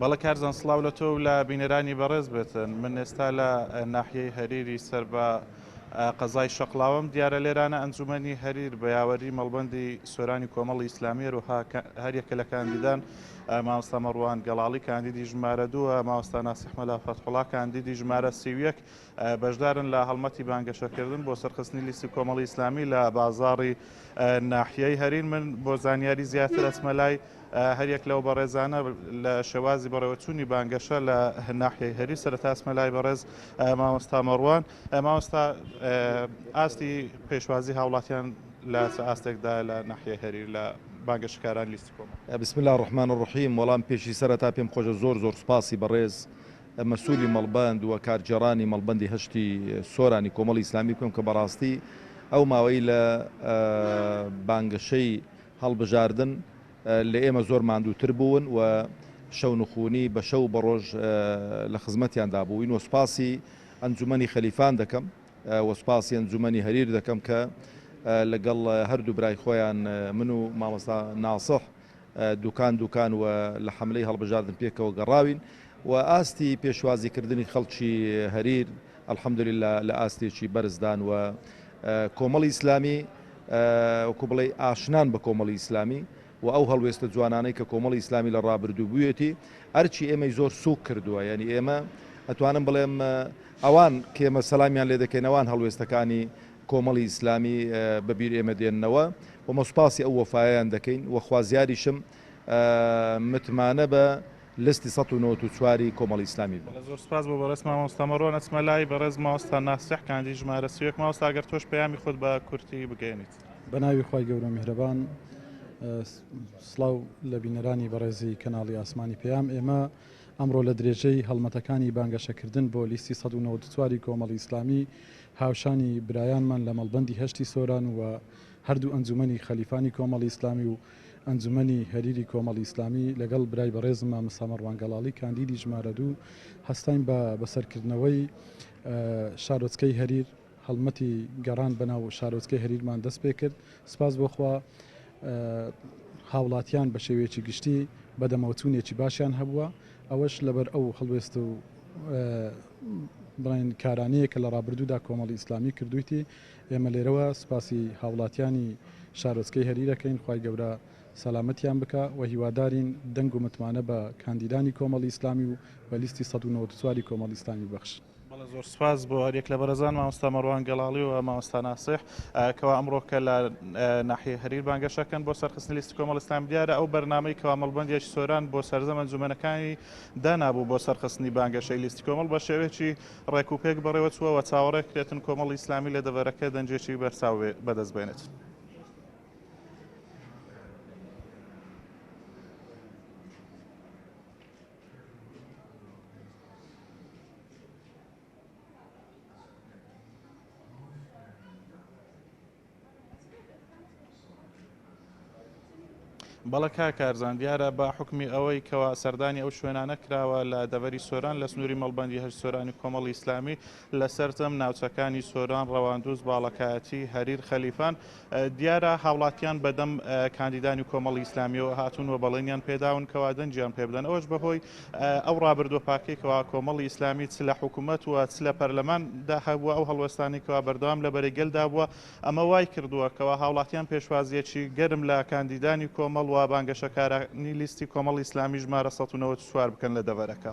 بەڵێ کارزان سڵاو لە تۆ و لە بینەرانی بەڕێز بێت. من ئێستا لە ناحیەی هەریری سەر بە قەزای شەقڵاوەم. دیارە لێرانە ئەنجوومەنی هەریر بە یاوەری مەڵبەندی سۆرانی کۆمەڵی ئیسلامی هەروەها هەر یەکە لە کاندیدان مامۆستا مەڕوان گەڵاڵی کاندیدی ژمارە دووە، مامۆستا ناسیح مەلا فەتحوڵا کاندیدی ژمارە سی و یەک، بەشدارن لە هەڵمەتی بانگەشەکردن بۆ سەرخستنی لیستی کۆمەڵی ئیسلامی لە بازاڕی ناحیەی هەرین من بۆ زانیاری زیاتر ئەچمە لای هەریەک لەو بەڕێزانە لە شێوازی بەڕێوەچوونی بانگەشە لە ناحیەی هەری سەرتاسمە لای بەڕێز مامۆستا مەڕوان مامۆستا ئاستی پێشوازی هاوڵاتیان لە ئاستێکدا لە ناحیە هەری لە بانگەشکاران لیستی کۆمە بسم الله ڕحمان ڕحیم وەڵام پێشی سەرەتا پێم خۆشە زۆر زۆر سپاسی بەڕێز مەسولی مەڵبەند و کارگێڕانی مەڵبەندی هەشتی سۆرانی کۆمەڵی ئیسلامی بکەم کە بەڕاستی ئەو ماوەی لە بانگەشەی هەڵبژاردن لە ئێمە زۆر ماندووتر بوون و شەونخونی بە شەو بە ڕۆژ لە خزمەتیان دابووین و سپاسی ئەنجومەنی خەلیفان دەکەم و سپاسی ئەنجومەنی هەریر دەکەم کە لەگەڵ هەردوو برای خۆیان من و مامۆستا ناسح دوکان دوکان و لە حەملەی هەڵبژاردن پێکەوە گەڕاوین و ئاستی پێشوازی کردنی خەڵکی هەریر الحمدللە لە ئاستێکی بەرزدان و کۆمەڵی ئیسلامی وەکو بڵێ ئاشنان بە کۆمەڵی ئیسلامی و ئەو هەڵوێستە جوانانەی کە کۆمەڵی ئیسلامی لە ڕابردوو بوویەتی ئەرچی ئێمەی زۆر سوک کردووە یعنی ئێمە ئەتوانم بڵێم ئەوان کێمە سەلامیان لێ دەکەینەوان هەڵوێستەکانی کۆمەڵی ئیسلامی بە بیر ئێمە دێننەوە و مە سوپاسی ئەو وەفایەیان دەکەین و خوازیاریشم متمانە بە لستی سەد و نەوەد و چوار ی کۆمەڵی ئیسلامی بن. زۆر سوپاس بۆ بەڕێز مامۆستا مەڕوان ئەچمە لای بەڕێز مامۆستا ناسیح کاندی ژمارە سی و یەک مامۆستا گەر تۆش پەیامی خۆت بە کورتی بگەیەنیت. بەناوی خوای گەورە میهرەبان سڵاو لە بینەرانی بەڕێزی کەناڵی ئاسمانی پەیام ئێمە ئەمڕۆ لە درێژەی هەڵمەتەکانی بانگەشەکردن بۆ لیستی سەد و نەوەد و چوار ی کۆمەڵی ئیسلامی هاوشانی برایانمان لە مەڵبەندی هەشتی سۆران و هەردوو ئەنجومەنی خەلیفانی کۆمەڵی ئیسلامی و ئەنجومەنی هەریری کۆمەڵی ئیسلامی لەگەڵ برای بەڕێزم مامۆستا مەڕوان گەڵاڵی کاندیدی ژمارە دوو هەستاین بە بەسەرکردنەوەی شارۆچکەی هەریر هەڵمەتی گەڕان بەناو شارۆچکەی هەریرمان دەست پێ کرد سپاس بۆ خوا هاوڵاتیان بە شێوەیەکی گشتی بەدەمەوەچوونێکی باشیان هەبووە ئەوەش لەبەر ئەو هەڵوێست و بڵێن کارانەیە کە لە ڕابردوودا کۆمەڵی ئیسلامی کردوویتی، ئێمە لێرەوە سوپاسی هاوڵاتیانی شارۆچکەی هەریر ئەکەین خوای گەورە سەلامەتیان بکا و هیوادارین دەنگ و متمانە بە کاندیدانی کۆمەڵی ئیسلامی و بە لیستی سەد و نەوەد و چوار ی کۆمەڵی ئیسلامی ببەخشن. بەڵێ زۆر سوپاس بۆ هەریەک لە بەرێزان مامۆستا مەروان گەڵاڵی و مامۆستا ناسیح کەوا ئەمڕۆ کە لە ناحیەی هەریر بانگەشەکەن بۆ سەرخستنی لیستی کۆمەڵی ئیسلامی دیارە ئەو بەرنامەی کەوا مەڵبەندی سۆران بۆ سەرجەم ئەنجومەنەکانی دانابوو بۆ سەرخستنی بانگەشەی لیستی کۆمەڵ بە شێوەیەکی ڕێک و پێک بەڕێوە چووە و چاوەڕێ کرێتن کۆمەڵی ئیسلامی لە دەڤەرەکە دەنگێکی بەرچاو بەدەست بێنێت. بەڵێ کاک کارزان، دیارە بە حوکمی ئەوەی کەوا سەردانی ئەو شوێنانە کراوە لە دەڤەری سۆران لە سنووری مەڵبەندی هەشت سۆرانی کۆمەڵی ئیسلامی لە سەرجەم ناوچەکانی سۆران، ڕەواندوز، باڵەکایەتی، هەریر، خەلیفان، دیارە هاوڵاتیان بەدەم کاندیدانی کۆمەڵی ئیسلامیەوە هاتوون و بەڵێنیان پێداون کەوا دەنگیان پێبدەن ئەوەش بەهۆی ئەو ڕابردووە پاکەی کەوا کۆمەڵی ئیسلامی چ لە حکوومەت و چ لە پەرلەمان دا هەبووە، ئەو هەڵوێستانەی کەوا بەردەوام لە بەرەی گەل دا بووە، ئەمە وای کردووە کەوا هاوڵاتیان پێشوازییەکی گەرم لە کاندیدانی کۆمەڵ و بانگەشەکارانی لیستی کۆمەڵی ئیسلامی ژمارە سەد و نەوەد و چوار بکەن لە دەڤەرەکە.